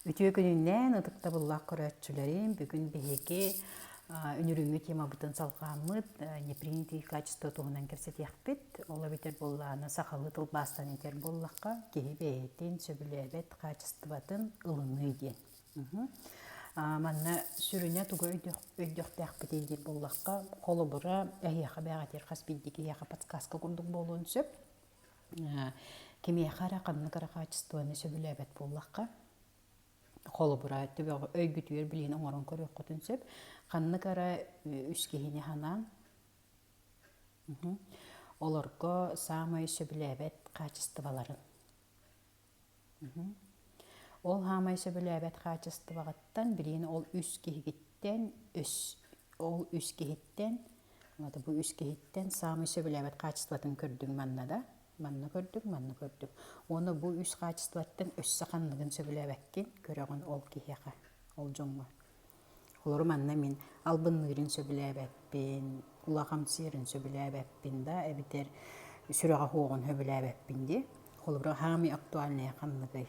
Үтүө күнүнэн ытыктабыллаах көрөөччүлэрим, бүгүн биһиги үнүрүҥҥү темабытын салҕааммыт непринятые качества туһунан кэпсэтиэхпит. Ол эбэтэр буоллаҕына сахалыы тылбаастан этэр буоллахха, киһи бэйэтин сөбүлээбэт хаачыстыбатын ылыныы диэн. Манна сүрүнэ тугу өйдөхтөхпүтүй диир буоллахха, холобура, эһиэхэ бэҕэтир хас биирдии киһиэхэ подсказка курдук буолуон сөп. Кимиэхэ эрэ ханнык эрэ хаачыстыбаны сөбүлээбэт буоллахха, холобура, төбөҕө өйгүтүгэр билиэни оҥорон көрүөххүтүн сөп. Ханнык эрэ үс киһини санаан, олорго саамай сөбүлээбэт хаачыстыбаларын Ол хаамай сөбүлээбэт хаачыстыбаҕыттан билиҥи ол үс киһигиттэн үс ол үс киһиттэн уонна бу үс киһиттэн саамай сөбүлээбэт хаачыстыбатын көрдүҥ манна да манна көрдүҥ манна көрдүҥ уонна бу үс хаачыстыбаттан өссө ханныгын сөбүлээбэккин көрөҕүн ол киһиэхэ ол дьоҥҥо Олору манна мин албынныырын сөбүлээбэппин, улахан сиэрин сөбүлээбэппин да, эбэтэр сүрэҕэ суоҕун сөбүлээбэппин дии. Холобура, хаамыы актуальная ханныгый?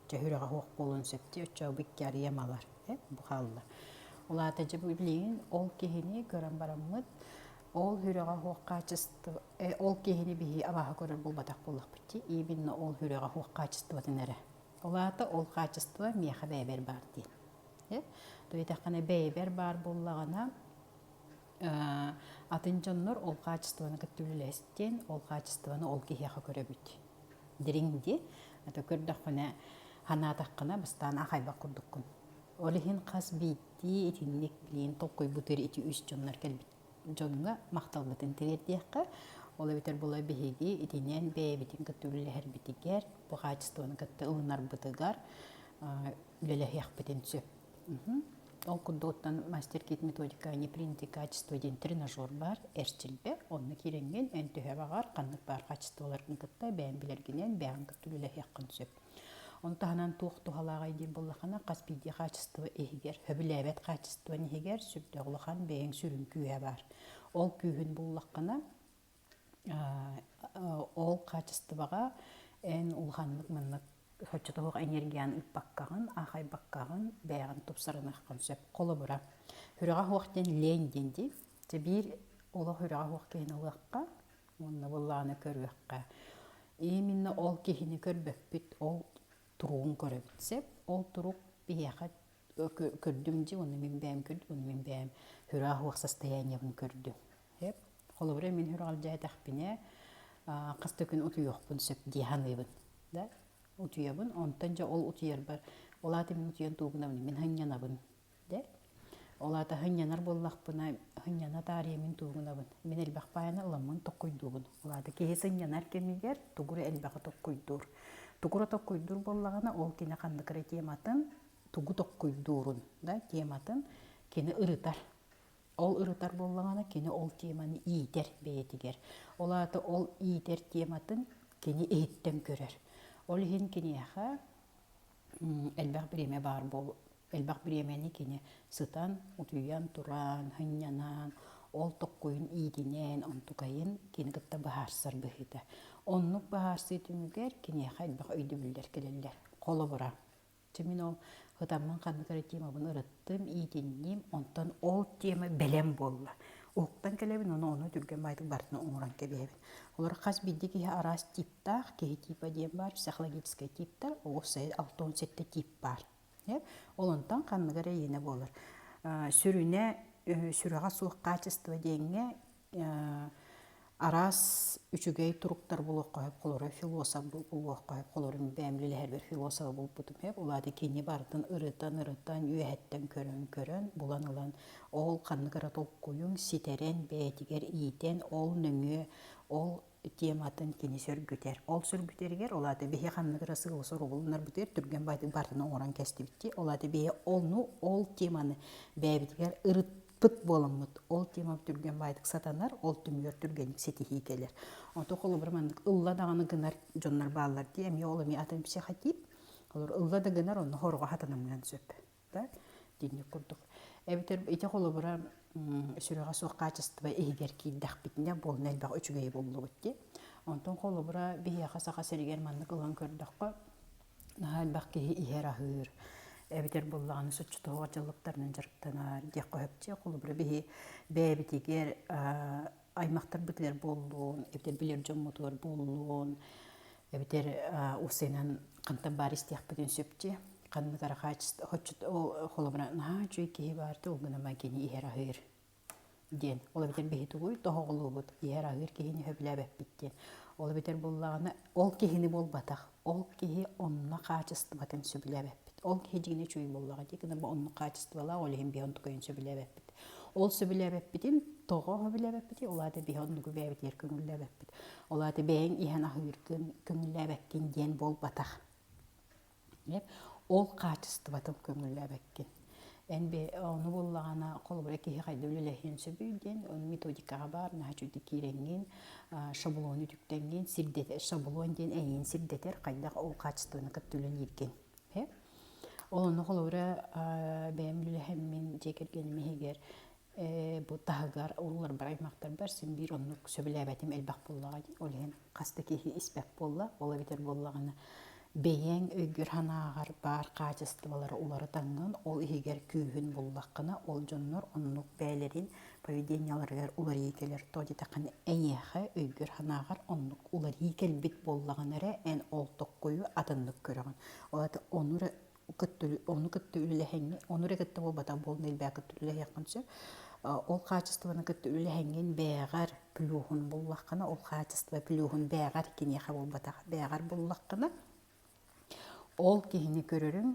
Дьэ, сүрэҕэ суох буолуон сөп дии, оччоҕо бу икки арыйам ылар, э, бу хаалла. Ол аата дьэ, бу билигин ол киһини көрөн бараммыт, ол сүрэҕэ суох хаачыстыба, э, ол киһини биһи абааһы көрөр буолбатах буоллахпыт дии, именно ол сүрэҕэ суох хаачыстыбатын эрэ. Ол аата ол хаачыстыба миэхэ бэйэбэр баар дии. Туйатаххына бэйбэр баар буллаҕына, атын дьоннор ол хаачыстыбаны кытта үлэлэстиэн, ол хаачыстыбаны ол киһиэхэ көрөбүт. Дириҥ дии, ата көрдөххүнэ, санаатаххына бастаан аахайбат курдуккун. Ол иһин хас биирдии итинник билигин толкуйбутугар ити үс дьоннор кэлбиттэр дьоҥҥо махталбытын тириэрдиэххэ. Ол эбэтэр була биһиги итинэн бэйэбитин кытта үлэлэһэрбитигэр, бу хаачыстыбаны кытта ылынарбытыгар үлэлэһиэхпитин сөп. Ол курдугуттан мастер-кит методика непринятый качество диэн тренажер баар эрчилбэ. Онно киирэҥҥин эн төһө баҕар ханнык баар хаачыстыбаларын кытта бэйэҥ билэргинэн бэйэҥ кытта үлэлэһиэххин сөп. Оны таһынан туох туһалааҕай диир боллахана хас биирдии хаачыстыба иһигэр, хөбүлээбэт хаачыстыбан иһигэр сүрдээх улахан бэйэҥ сүрүн күүһэ баар. Ол күүһүн буллаххына ол хаачыстыбаҕа эн улаханнык маннык соччото суох энергияны ыыппаккаҕын, аахайбаккаҕын, бэйэҕин тупсарыныаххын сөп. Холобура, үрэҕэ суох диэн лень диэн дии. Дьэ биир олох үрэҕэ суох киһини ылыахха, уонна былааны көрүөххэ. Именно ол киһини көрбөппүт, ол туругун көрөбүт. Сөп, ол турук биһиэхэ көрдүм дии, ону мин бэйэм көрдүм, ону мин бэйэм сүрэх уох состояниебын көрдүм. Сөп. Холобура мин сүрэх алдьаатахпина хас да күн утуйуохпун сөп дии саныыбын. Да? Утуйабын, онтон дьэ ол утуйарбар, ол аата мин утуйан тугунабын, мин санньанабын Дэ. Ол аата хынньанар буоллахпына, хынньана таарыйамын туугунабын. Мин элбэх паайаны ыламмын токкойдуубун. Ол аата киһи сынньанар кэмигэр тугура элбэҕи токкойдуур. Тугура токкойдуур буоллаҕына, ол кини ханнык эрэ тематын тугу токкойдуурун да тематын кини ырытар. Ол ырытар буоллаҕына, кини ол теманы иитэр бэйэтигэр. Ол аата ол иитэр тематын кини иһиттэн көрөр. Ол иһин киниэхэ элбэх бириэмэ баар буол элбэх бириэмэни кини сытан утуйан тураан һынньанан ол токкуйун иитинэн онтукайын кини кытта быһаарсар быһыыта оннук быһаарсыы түмүгэр киниэхэ элбэх өйдөбүллэр кэлэллэр холобура чэ мин ол һытаммын ханнык эрэ темабын ырыттым иитинним онтон ол тема бэлэм буолла уһуктан кэлэбин ону онно түргэн баайдык барытын оҥорон кэбиһэбин Олор хас бирди киһи араас типтаах, киһи типа диэн баар, психологическай типтар, оҕус алта уон сэттэ тип баар. Ол онтон ханныгар эйиэнэ буолар. Сүрүнэ сүрэҕэ суох хаачыстыба диэҥҥэ араас үчүгэй туруктар булуохха сөп, холоро философ булуохха сөп, холорун бэйэм үлэлэһэрбэр философа булбутум сөп. Ол аата кини барытын ырытан-ырытан, үөһэттэн көрөн-көрөн, булан ылан Ол ханнык эрэ толкуйун ситэрэн, бэйэтигэр иитэн, ол нөҥүө ол тематын кини сөргүтэр. Ол сөргүтэригэр ол аата биһи ханнык эрэ сыалы-соругулунар бытыгар түргэн баатын партаны оҥорон кэстибитти. Ол аата биһи ону ол теманы бэйэбитигэр ырытпыт буоламмыт ол тема түргэн баайтык сатанар, ол түмүгэр түргэнник ситиһии кэлэр. Ото холобура маннык ылла даҕаны гынар дьоннор бааллар дии, эмиэ ол эмиэ атын психотип. Олор ылла да гынар, онно хорҕо хатанамыан сөп. да динник курдук эбэтэр ити холобура сүрэҕэ суох хаачыстыба иһигэр киирдэхпитинэ буолна элбэх үчүгэй буллубут дии онтон холобура биһиэхэ саха сиригэр маннык ылан көрдөххө наһаа элбэх киһи иһэр аһыыр эбэтэр буллаҕына соччотоох дьаллыктарынан дьарыктанар диэххэ сөпчө холобура биһи бэйэбитигэр аймахтарбытыгар буоллун, эбэтэр билэр дьоммутугар буоллун, эбэтэр усенан хантан баар истиэхпитин сөпчү. Ханнык ара хаачыста хоччут ол холобура наһаа үчүгэй киһи баарты ол гына кини иһэр аһыыр диэн. Ол эбэтэр биһи тугуй тоһоҕолуубут иһэр аһыыр киһини сөбүлээбэппит диэн. Ол эбэтэр буоллаҕына ол киһини буолбатах. Ол киһи онно хаачыстыбатын сөбүлээбэппит. Ол киһи дьиҥинэ үчүгэй буоллаҕа дии гынна онно хаачыстыбалаах, ол иһин биһиги оннук ойун сөбүлээбэппит. Ол сөбүлээбэппитин тоҕо билээбэппитий? Ол аата биһи оннугу бэйэбитигэр көҥүллээбэппит. Ол аата бэйэҥ иһэн аһыыргын көҥүллээбэккин диэн буолбатах. Ол хаачыстыбатын көҥүллээбэккин. Эн би ону буллагана холобура киһи хайда үлэлэһиэн сөбүй диэн, ону методикаҕа баар наһаа үчүгдүк киирэҥҥин, шаблону үтүктэҥҥин, сирдэтэр, шаблон диэн эйиин сирдэтэр хайдах ол качествоны кытта үлэлииргин. Ол ону холобура бэйэм үлэлэһэммин дьиэ кэргэним иһигэр Бу таһыгар улуурбар аймахтарбар син биир оннук сөбүлээбэтим элбэх буоллаҕа. Ол иһин хас да киһи испэт буолла. Ол эбэтэр буоллаҕына бэйэҥ өйгөр-санааҕар баар хаачыстыбалары уларытаҥҥын, ол иһигэр күүһүн буллаххына, ол дьоннор оннук бэйэлэрин поведениеларыгар уларыйыы кэлэр. Тоҕо диэтэххинэ эйиэхэ өйгөр-санааҕар оннук уларыы кэлбит буоллаҕына эрэ эн ол токкойу атыннык көрөҕүн. Ол онно эрэ кытта ону кытта үлэлэһиҥҥин ону эрэ кытта буолбатах буолна элбээх кытта үлэлэһиэххин сөп ол хаачыстыбаны кытта үлэлэһиҥҥин бээҕэр плюхун буллаххына ол хаачество плюхун бээҕэр киниэхэ буолбатах бээҕэр буллаххына ол киһини көрөрүҥ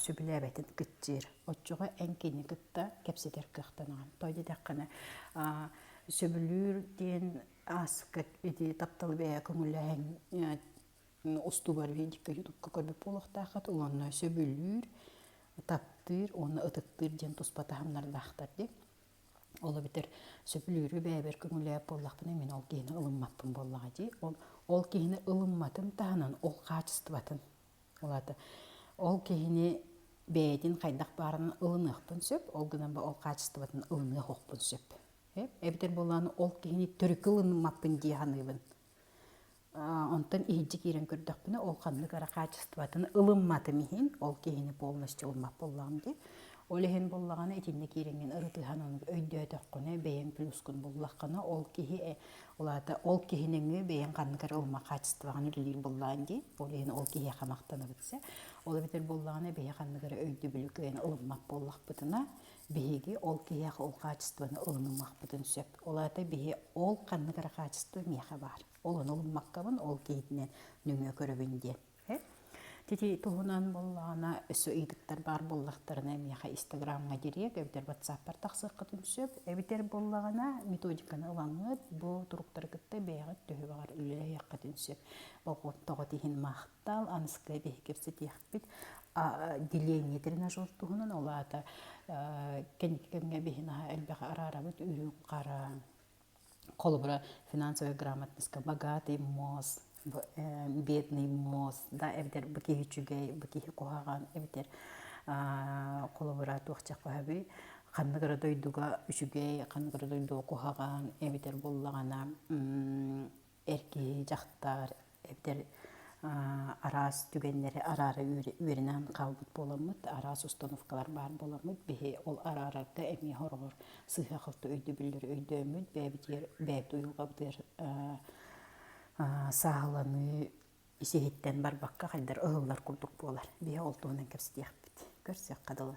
сөбүлээбэтин кыччыыр оччоҕо эн кини кытта кэпсэтэр кыахтанаҕын той дитэххинэ сөбүлүүр диэн ааска ити тапталы бэйэ көҥүллэһэн устубар видика ютубка көмөп буолуохтааххыт уонна сөбүлүүр таптыыр уонна ытыктыыр диэн туспа таһымнардаахтар дии ол эбэтэр сөбүлүүрү бэйэбэр көҥүлээп буоллахпына мин ол киһини ылыммаппын буоллаҕа дии ол ол киһини ылымматын таһынан ол хаачыстыбатын улаата ол киһини бэйэтин хайдах баарынан ылыныахпын сөп ол гынан ба ол хаачыстыбатын ылыныахпын сөп эбэтэр буоллаҕына ол киһини төрүкү ылынмаппын дии саныыбын Онтон иһинчи киирэн көрдөхпүнэ, ол ханнык эрэ хаачыстыбатын ылымматым иһин, ол киһини полностью ылыммат буоллаҕым дии. Ол иһин буоллаҕына, итиннэ киириҥҥин ырытыһан ону өйдөөтөххүнэ, бэйэҥ плюскун буллаххына, ол киһи ол аата ол киһи нөҥүө бэйэҥ ханнык эрэ ылыммат хаачыстыбаҕын үлэлиир буоллаҕын дии. Ол иһин ол киһиэхэ махтанабыт сэ. Ол эбэтэр буоллаҕына, биһи ханнык эрэ өйдөбүлү кыайан ылыммат буоллахпытына, биһиги ол киһиэхэ ол хаачыстыбаны ылынымахпытын сөп. Ол аата биһи ол ханнык эрэ хаачыстыба миэхэ баар. Ол ону ылыммаккабын, ол киһитинэн нөҥүө көрөбүн диэн. Ити туһунан буоллаҕына, өссө ыйытыктар баар буоллахтарына, миэхэ Инстаграмҥа дириэк, эбэтэр WhatsApp-пар тахсыаххытын сөп. Эбэтэр буоллаҕына, методиканы ылаҥҥыт, бу туруктары кытта бэйэҕит төһө баҕар үлэлэһиэххитин сөп. Болҕомтоҕут иһин махтал, аныскы эбиһи кэпсэтиэхпит. Деление тренажер туһунан, ол аата кэнники кэмҥэ биһи наһаа элбэҕи араарабыт, үрүҥ-хара, холобура финансовай грамотнайска богатый мосс бедный мосс да эбэтэр бу киһи үчүгэй бу киһи куһаҕан эбэтэр холобура туохчах баһабый ханнык эрэ дойдуга үчүгэй ханнык эрэ дойдуга куһаҕан эбэтэр буоллаҕына эр киһи дьахтар эдэр араас түгэннэри араара үөрэнэн хаалбыт буоламмыт, араас установкалар баар буоламмыт, биһи ол араарарга эмиэ хороҕор сыһыахалта өйдөбүллэри өйдөөммүт, бэйэбитигэр бэйэбит уйулҕабытыгар сааһыланыы сиһиттэн барбакка хайдар ылыллар курдук буолар. Биһи ол туһунан кэпсэтиэхпит. Көрсүөххэ дылы.